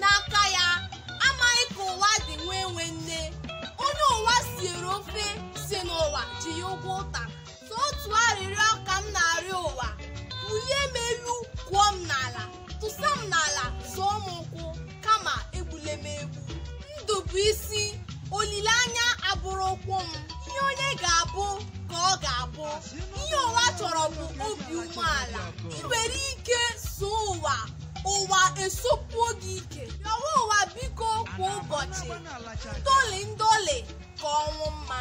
n'aka ya amaghị ka ụwa dị nwa enwe nne onye ụwa siere ofe sị na ụwa ji ya ụgwọ ụta sọ otu arịrịọ ka m na-arịọ ụwa bulie m elu kụọ m n'ala tụsa m n'ala zọọ m ụkwụ kama egbule m egbu ndụ bụ isi olileanya abụrụ ụkwụ m ihe onye ga-abụ ka ọ ga-abụ ihe ụwa chọrọ bụ obi umeala i were ike soo ụwa ụwa esopuo gị ike rịọwa ụwa biko kwa ụbọchị ndọlị ndọlị ka ọnwụ mma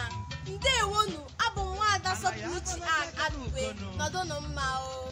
ndewonu abụ m nwaada sọpụrụchi a adụbe nọdụnụ mma o